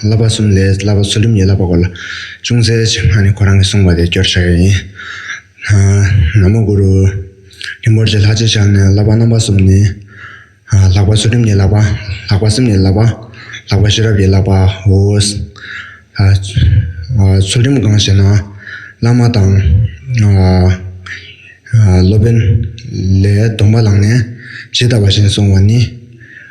བསླབ་པ་གསུམ་ལས་བསླབ་པ་གསོ་རིམ་ཡན་ལག་པ་སྐོར་ལ་ཅུང་ཟད་ཕྱི་མ་ནི་ཁོ་རང་གིས་གསུངས་པ་དེ་སྐྱོར་བྱ་ཡི་ཡིན། ན་མོ་གུ་རུ། རིན་པོ་ཆེ་ལྷ་རྗེ་ཤར་ནས་བསླབ་པ་རྣམ་པ་གསུམ་ནི། ལྷག་པ་གསོ་རིམ་ཡན་ལག་པ། ལྷག་པ་སེམས་ཡན་ལག་པ། ལྷག་པ་ཤེས་རབ་ཡན་ལག་པའོ། གསོ་རིམ་གང་ཞེ་ན། བླ་མ་དང། སློབ་དཔོན། ལས་སྡོམ་པ་ལངས་ནས་ཇི་ལྟ་བ་བཞིན་བསྲུང་བ་ནི།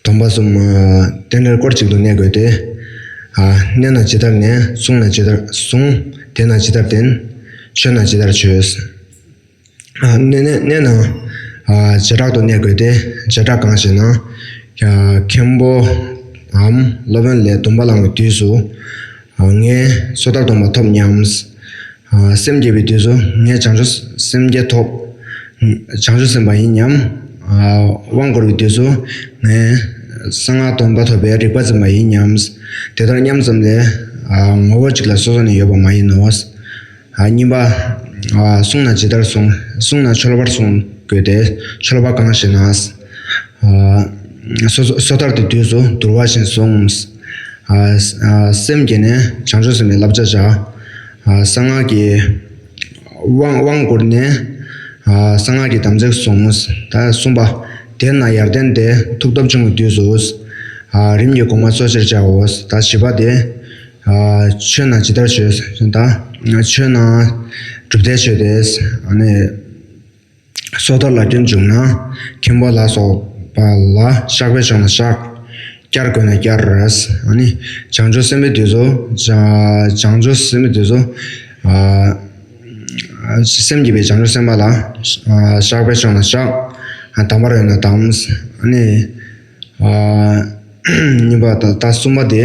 སྡོམ་པ་གསུམ། རྟེན་འབྲེལ་སྐོར་གཅིག་ཏུ་གནས་དགོས་ཏེ། གནས་ན་ཇི་ལྟར་གནས། བསྲུང་ན་ཇི་ལྟར་བསྲུང། བསྟེན་ན་ཇི་ལྟར་བསྟེན། མཆོད་ན་ཇི་ལྟར་མཆོད། གནས་ན་བྱེ་བྲག་ཏུ་གནས་དགོས་ཏེ། བྱེ་བྲག་གང་ཞེ་ན། མཁན་པོའམ་སློབ་དཔོན་ལས་སྡོམ་པ་བླངས་པའི་དུས་སུ། ངས་སོ་ཐར་སྡོམ་པ་ཐོབ་སྙམ། སེམས་བསྐྱེད་པའི་དུས་སུ་ངས་བྱང་ཆུབ་སེམས་བསྐྱེད་ཐོབ། བྱང་ཆུབ་སེམས་དཔའ་ཡིན་སྙམ། དབང་བསྐུར་བའི་དུས་སུ་ངས་གསང་སྔགས་སྟོང་པ་ཐོབ་པའི་རིག་པ་འཛིན་པ་ཡིན་སྙམ། དེ་ལྟར་སྙམ་ཙམ་ལས། ངོ་བོ་གཅིག་ལ་སོ་སོ་ནས་ཡོད་པ་མ་ཡིན་ནོ། གཉིས་པ། གསུངས་ན་ཇི་ལྟར་གསུངས། གསུངས་ན་འཆོལ་བར་གསུངས་དགོས་ཏེ། འཆོལ་བ་གང་ཞེ་ན། སོ་ཐར་གྱི་དུས་སུ་དུར་བ་བཞིན་བཟུང། སེམས་བསྐྱེད་ནས་བྱང་ཆུབ་སེམས་དཔའི་བསླབ་བྱ་བྱ། གསང་སྔགས་ཀྱི་དབང་བསྐུར་ནས་གསང་སྔགས་ཀྱི་དམ་ཚིག་བཟུང། གསུངས་པ། དེས་ན་ཡར་ལྡན་དེ་ཐུགས་སྟོབས་ཆུང་བའི་དུས་སུ། རིམ་གྱིས་གོང་མ་གཙོ་ཆེར་བྱའོ། བཞི་པ། དེ་ཆོས་ན་ཇི་ལྟར་བྱོས། ཆོས་ན་སྒྲུབ་སྡེ་ཆོས་ཏེ། སོ་ལྟར་ལ་སྐྱོན་བྱུང་ན། མཁན་པོ་ལ་སོགས་པ་ལ་བཤགས་པས་ཆོག་ན་བཤགས། བསྐྱར་དགོས་ན་བསྐྱར། བྱང་ཆུབ་སེམས་དཔའི་དུས་སུ། བྱང་ཆུབ་སེམས་དཔའི་དུས་སུ། སེམས་བསྐྱེད་པའི་བྱང་ཆུབ་སེམས་དཔའ་ལ། བཤགས་པས་ཆོག་ན་བཤགས། དམ་པར་ཡོད་ན་དམ། གཉིས་པ་དང་གསུམ་པ་སྟེ།